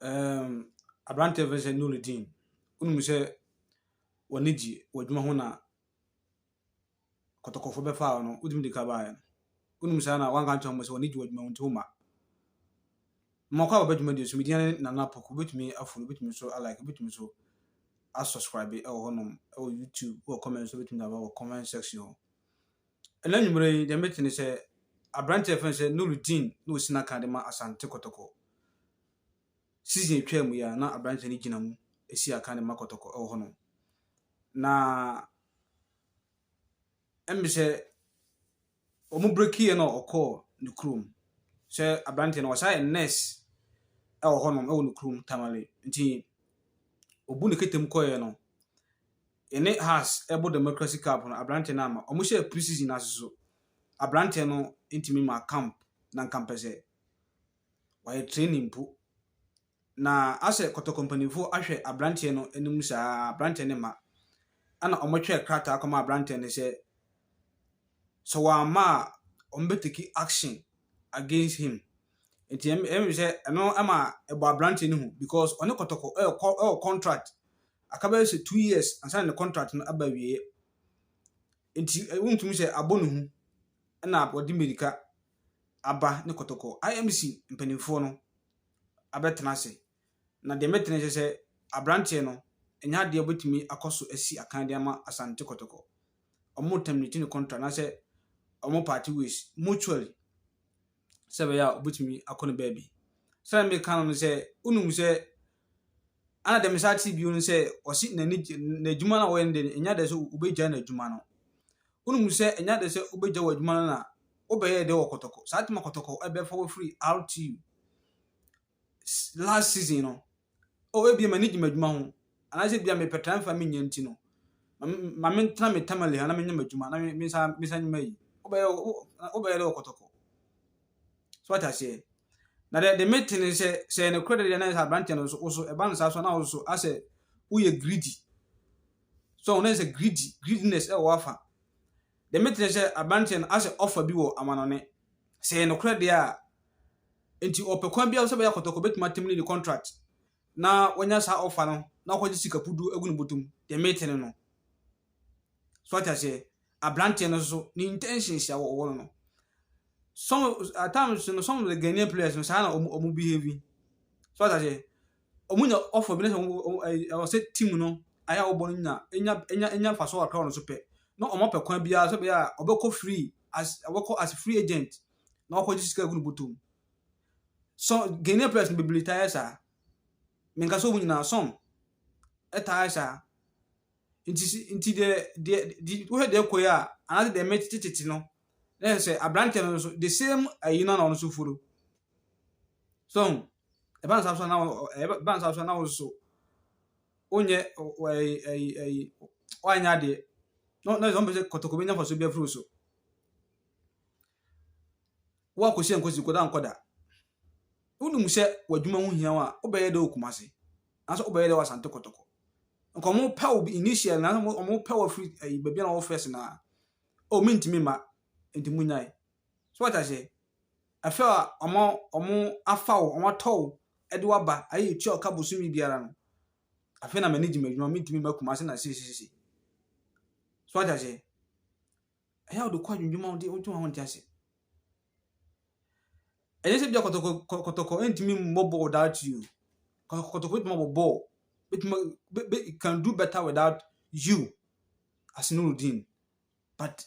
Ɛɛm, aberanteɛ a wɔfrɛ no sɛ Nuruddin, wonim sɛ wɔn ani gye w'adwuma ho na kɔtɔkɔfoɔ bɛfaa wo no, wotumi de ka baeɛ no. Wonim saa na woanka ankyerɛ wɔn sɛ wɔn ani gye w'adwuma ho nti womma. Mmakɔ a wɔba adwuma deɛ so medin ne Nana Poku, wobɛtumi afolo, wobɛtumi nso alike, wobɛtumi nso asɔskraibe wɔ hɔnom wɔ YouTube, wɔ comment so wobɛtumi de aba wɔ comment section hɔ. Ɛnnɛ anwumerɛ yi deɛ mete ne sɛ aberanteɛ a yɛfrɛ no sɛ Nurudeen na ɔsi n'aka de ma Asante Kɔtɔkɔ. Season a ɛtwaa mu yi a na aberanteɛ no gyina mu si aka de ma Kɔtɔkɔ wɔ hɔnom. Na ɛmbe sɛ wɔn brekiiɛ na ɔkɔɔ ne kurom sɛ aberanteɛ no ɔsan yɛ nurse wɔ hɔnom wɔ ne kurom Tamale nti ɔbu ne kete mu kɔeɛ no Yɛne Hearts bɔ Democracy Cup no, aberanteɛ no amma. Wɔhyɛɛ pre-season no ase nso, aberanteɛ no ntumi mmaa camp no anka mpɛ sɛ wayɛ training mpo. Na asɛ Kɔtɔkɔ mpanimfoɔ ahwɛ aberanteɛ no anim saa ara, aberanteɛ no mma. Ɛna wɔtwerɛɛ krataa kɔmaa aberanteɛ no sɛ, sɛ wamma a wɔn bɛ take action against him nti ɛm ɛm sɛ ɛno ɛma ɛbɔ aberanteɛ no hu because ɔne kɔtɔkɔ ɛkɔ ɛwɔ contract akabɛyɛ sɛ two years ansa na ne contract no aba awieɛ nti wontumi sɛ abɔ ne hu ɛna wɔde mmirika aba ne kɔtɔkɔ IMC mpanimfoɔ no abɛtena ase. Na deɛ mɛtene nso sɛ abranteɛ no ɛnyɛ adeɛ ɔbɛtumi akɔso asi akan de ama Asante Kɔtɔkɔ. Ɔmo terminate ne contract anaasɛ ɔmo party ways mutually sɛ ɛbɛyɛ a ɔbɛtumi akɔ ne baabi. Sɛ na meka no no sɛ wonim sɛ ana deɛ mesan te bio no sɛ ɔse n'ani n'adwuma no a wɔyɛ no deɛ ɛnyɛ adeɛ sɛ wobɛgya n'adwuma no. Wonim sɛ ɛnyɛ adeɛ sɛ wobɛgya w'adwuma no na wobɛyɛ deɛ wɔ Kɔtɔkɔ. Saa tuma Kɔtɔkɔ ɛbɛfa wafiri RTU. last season no oh ebia m'ani gye m'adwuma ho anaasɛ ebia mepɛ transfer menyɛ nti no ma mentena me tamale ha na menyɛ m'adwuma na mensa mensa nyɛ mayi wobɛyɛ wobɛyɛ dɛ wɔkɔtɔkɔ so wate aseɛ na deɛ de mete ne sɛ sɛ ne korɛ deɛ na sɛ aberanteɛ no so wo so ɛba no saa so na wo so asɛ woyɛ greedy so na sɛ greedy greediness ɛwɔ afa deɛ mete ne sɛ aberanteɛ no asɛ offer bi wɔ amanɔne Sɛ ɛyɛ nokorɛ deɛ a, enti ɔpɛ kwan biara so sɛ bɛyɛ akɔtɔkɔ bɛtumi atem ne ne contract na wanya saa offer no na ɔkɔgye sika pudu agu ne botom deɛ mete no no so ate aseɛ abranteɛ no so ne intentions a wɔwɔ no no some at times no some of the Ghanaian players no saa na ɔmo ɔmo behave so ate aseɛ Ɔmo nya ɔfɔ bi na sɛ ɔmo ɔmo ɛɛ ɛwɔ sɛ team no ayɛ a wɔbɔ no nya enya enya enya nfaso kakra wɔ no so pɛ na ɔmo apɛ kwan biara sɛ bɛyɛ a ɔbɛkɔ free as ɔbɛkɔ as free agent na wakɔ gye sika gu no bɔtɔ mu. So Ghanaian players no bebree taa yɛ saa. Menka sɛ ɔmo nyinaa some ɛtaa yɛ saa. Nti si nti deɛ deɛ di wohwɛ deɛ ɛkɔ yi a anaasɛ deɛ mɛtete tete no na yɛ sɛ aberanteɛ no nso the same ayi no na ɔno nso follow. So Ɛba no saa nso a na wo- ɔ- ɛba ɛba no saa nso a na wo nso wonyɛ ɔ- ɔ- ɛyi ɛyi ɛyi woanyɛ adeɛ na na wɔn pɛ sɛ kɔtɔkɔ bɛnya mfasoɔ bi afiri wo so woakɔsi ankɔsi kɔda ankɔda wonim sɛ w'adwuma ho hia wo a wobɛyɛ dɛ wɔ Kumase anaasɛ wobɛyɛ dɛ wɔ Asante kɔtɔkɔ nka wɔn pɛ wo bi- initial na wɔn pɛ wo afiri ɛyi baabi a na wɔwɔ first na o mentumi mma nti monyae So wate aseɛ? Afei a wɔma wɔn afa wo, wɔn atɔ wo de wo aba, ayɛ yɛ tua ɔka bosome biara no, afei na m'ani gye m'adwuma, mentumi mma Kumasi na sisisisi. So wate aseɛ? Ɛyɛ a wode kɔ adwendwuma a wode wodwe wo ho nte ase. Ɛnyɛ sɛ bia kɔtɔkɔ kɔ- kɔtɔkɔ ntumi mmɔ bɔɔl without you. Kɔtɔkɔ kɔtɔkɔ bɛtumi abɔ bɔɔl. Bɛtumi a- bɛ- bɛ- it can do better without you as Nurudeen. But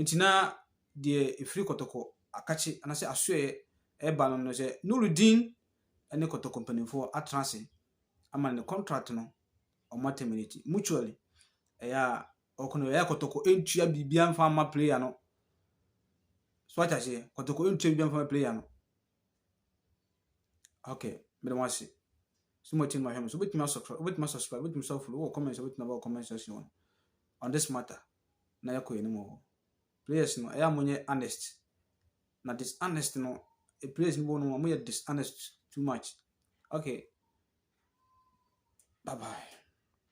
Ntsi na deɛ efiri kɔtɔkɔ akakye anaasɛ asoɛɛ reba no no sɛ Nurudeen ne kɔtɔkɔ mpanimfoɔ atena ase ama ne contract no wɔn a terminate mutually ɛyɛ a ɔkɔ no ɛyɛ kɔtɔkɔ ntua biribiara mfa mma player no so ate aseɛ kɔtɔkɔ ntua biribiara mfa mma player no okay mede mo ase so mo ti no ma hwɛ mo so wobɛtumi asubscribe wobɛtumi asubscribe wobɛtumi sɛ follow wɔ comment sɛ wobɛtumi aba wɔ comment section on this matter na yɛkɔ yɛn anim wɔ hɔ. Players no, ɛyɛ a wɔnyɛ honest. Na dishonest no, players no bi wɔ hɔ no, wɔyɛ dishonest too much. Okay. Bye bye.